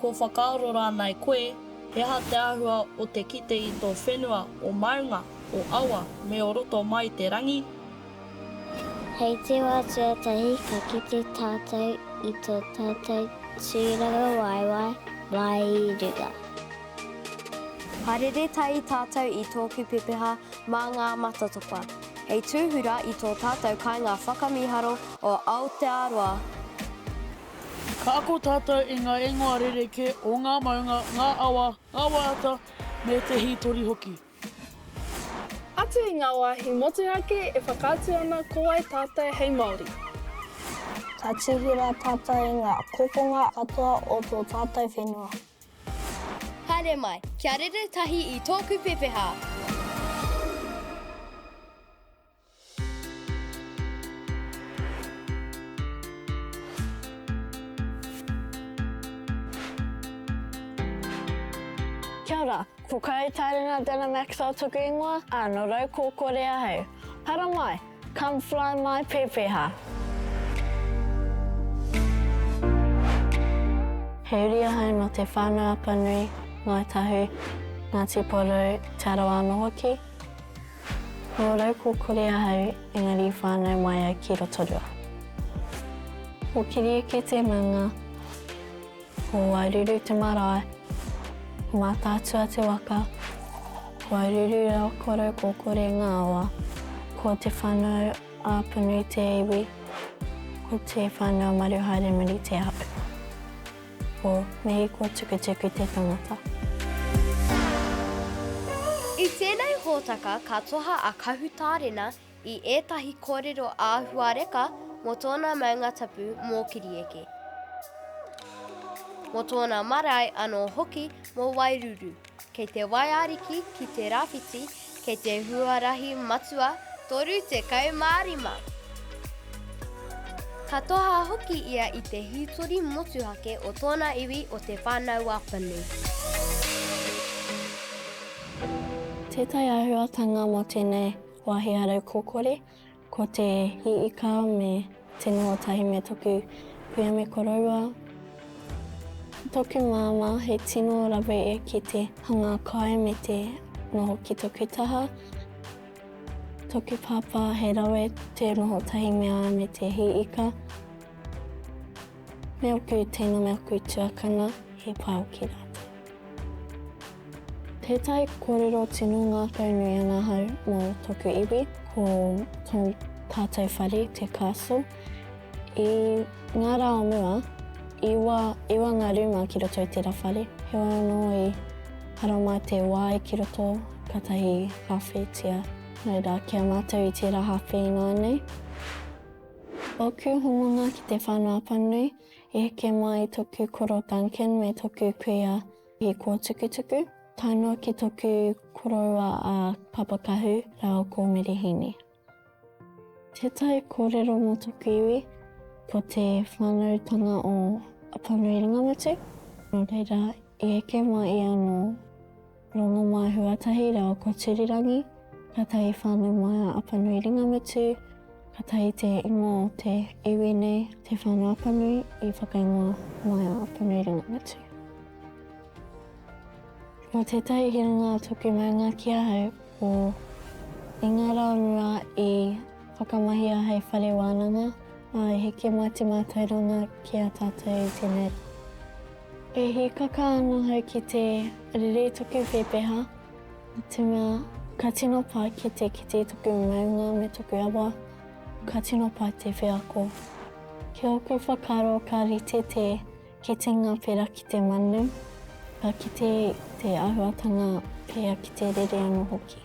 Kua whakaaro rānei koe he aha te āhua o te kite i tō whenua o maunga, o awa, me o roto mai i te rangi? Hei te wā tuatahi ka kite tātou i tō tātou tūrangawaewae māi i runga. Haere tahi tātou i tōku pepeha mā ngā matatopa hei tūhura i tō tātou kāinga whakamīharo o Aotearoa. Ka ako tātou i ngā ingoa rerekē o ngā maunga, ngā awa, ngā waiata, me te hītori hoki. Atu i ngā wāhi motuhake e whakaatu ana ko wai tātou hei Māori. Ka tuhi rā tātou i ngā kokonga katoa o tō tātou whenua. Haere mai, kia rere tahi i tōku pepeha! Kia ora, ko Kai Taringa Dana Maxwell toku ingoa, a no Raukokore ahau. Para mai, come fly my pepeha. He uri ahau no te Whanau Apanui, Ngāi Tahu, Ngāti Porou, Te Arawa ano hoki. Nō Raukokore ahau, engari i whānau mai au ki Rotorua. Ko Kiriuki te manga, ko Wairuru te marae, ko Mātaatua te waka, ko Aruru rā ko Raukokore ngā awa, ko Te Whanau-a-Panui te iwi, ko Te Whanau-a-Maruhaere muri te ahu. Ko Mihiko Tukutuku te tangata. I tēnei hōtaka ka toha a Kahu Tārena i ētahi kōrero āhuareka mō tōna maunga tapu mōkiri eke, mō tōna marae anō hoki mō Wairuru. Kei te Waiariki ki te Rawhiti, kei te huarahi matua 35. Ka toha hoki ia i te hītori motuhake o tōna iwi o Te Whānau-a-Whanu. Tētahi āhuatanga mō tēnei wāhi arau kōkore Ko te hiika me te noho tahi me toku kuia me koroua. Toku māmā he tino rawe ki te hanga kai me te noho ki toku taha. Toku pāpā he rawe te noho tahi me a me te hiika. Me oku tēnā me aku tuakana he pao ki rātou. Tētahi kōrero tino ngākau nui ana ahau mō tōku iwi, ko tō tātou whare, te castle. I ngā rā o mua, i wa, i wa ngā rūma ki roto i tērā whare. Heoi anō i hara mai te wai ki roto, katahi hāwheitia. Nō reira, ki a mātou i tērā hāwhe ināianei. Ōku hononga ki te whānau apanui, I heke mai toku koro Duncan me toku kuia i Kōtukutuku, tae noa ki toku koroua a Papakahu rāua ko Merehini. Tētahi kōrero mō toku iwi, ko te whānautanga o Apanui Ringamutu, nō reira, i heke mai ia nō. Rongomaihu atahi reo ko Tirirangi, katahi whanau mai a Apanui Ringamutu, katahi te ingoa o te iwi nei, Te Whānauapanui, i whakaingoa mai a Apanui Ringamutu. Ko tētahi hiranga tuku maunga ki ahau, ko I ngā rā mua i whakamahia hei whare wānanga, ā, i heke mai te mātauranga ki a tātou i tēnei rā. E hīkaka ana au ki te rere toku pēpeha, te mea ka tino pai ki te kite toku maunga me toku awa, ka tino pai te wheako. Ki ōku whakaaro ka rite te kitenga pērā ki te manu, ka kite te āhuatanga pēia ki te rere anō hoki.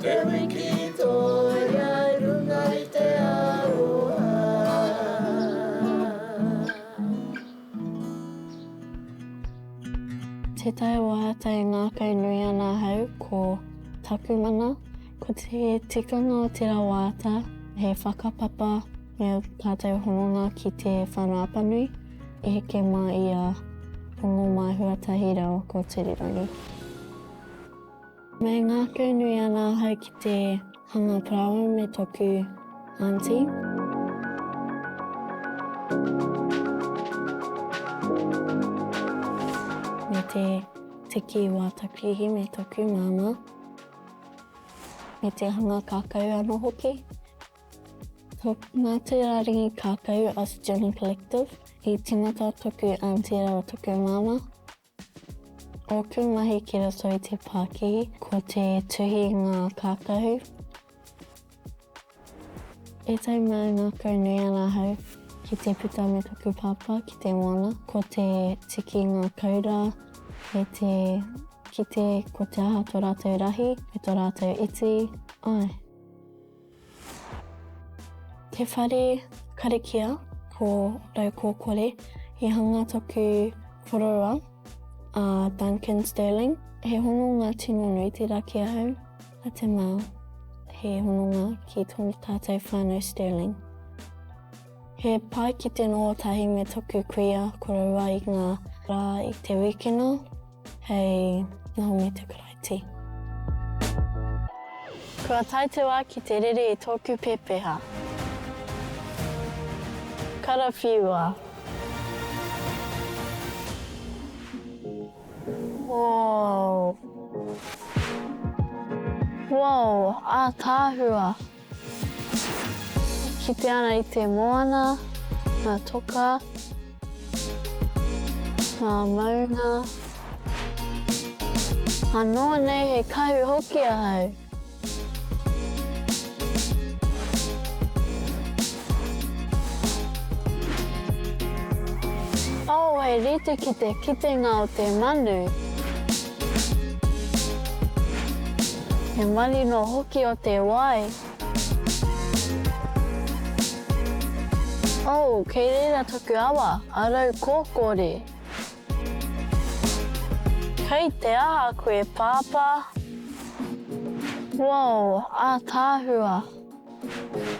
Te wiki toia runga i te aroha. Te Tai Waiata e ngākau nui ana ahau ko taku mana, ko te tikanga o tera waiata he whakapapa me au tatou hononga ki te whana apanui e heke ma ia Rongomahua Tahireo Kotirirangi. Me ngākau nui ana ahau ki te hanga parāoa me tōku aunty. Me te tiki i wā taku ihi me tōku māmā. Me te hanga kākau anō hoki. Ko ngā tūrārangi kākau a Student Collective i tīmata tōku aunty rāua tōku māmā. Ōku mahi ki roto i te pākihi, ko te tuhi i ngā kākahu. E tau mā ngākau nui ana ahau ki te puta me taku pāpā ki te moana, ko te tiki i ngā koura, me te kite ko te aha tō rātou rahi, me tō rātou iti, āe. Te whare karakia ko Raukōkore i hanga taku kororoa a Duncan Stirling. He hononga tino nui tērā ki ahau, a Te Mao. He hononga ki tō tātou whānau Stirling. He pai ki te noho tahi me taku kuia koroua i ngā rā i te wikina. Hei nga hongi te Karaiti. Kua tae te wā ki te rere i tōku pēpeha. Karawhiua. Woo. Woo, ātaahua. Kite ana i te moana, nga toka, nga maunga. Ano nei he kahu hoki ahau. Oh he rite ki te kitenga o te manu. He manu noa hoki o te wai. Oh, kei reira taku awa, a Raukōkōre. Kei te aha koe, Pāpā? Whoa, ātaahua.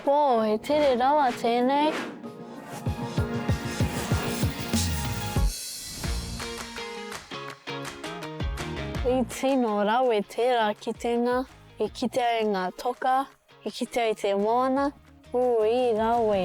Pō, he tere rawa tēnei. I tino rawe tērā kitenga, i kitea e ngā toka, i kitea i te moana, ui rawe.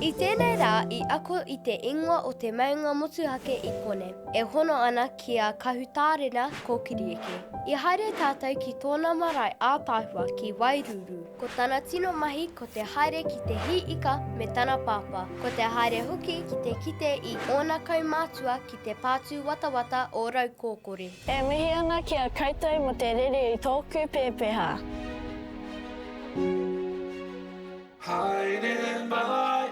I tēnei rā i ako i te ingoa o te maunga motuhake i Kone, e hono ana ki a Kahutārena Kōkirieke. I haere tātou ki tōna marae ātaahua ki Wairūrū. Ko tana tino mahi ko te haere ki te hī ika me tana pāpā. Ko te haere hoki ki te kite i ōna kaumātua ki te pātūwatawata o Raukōkore. E mihi ana ki a koutou mo te rere i tōku pēpeha. Haere mai.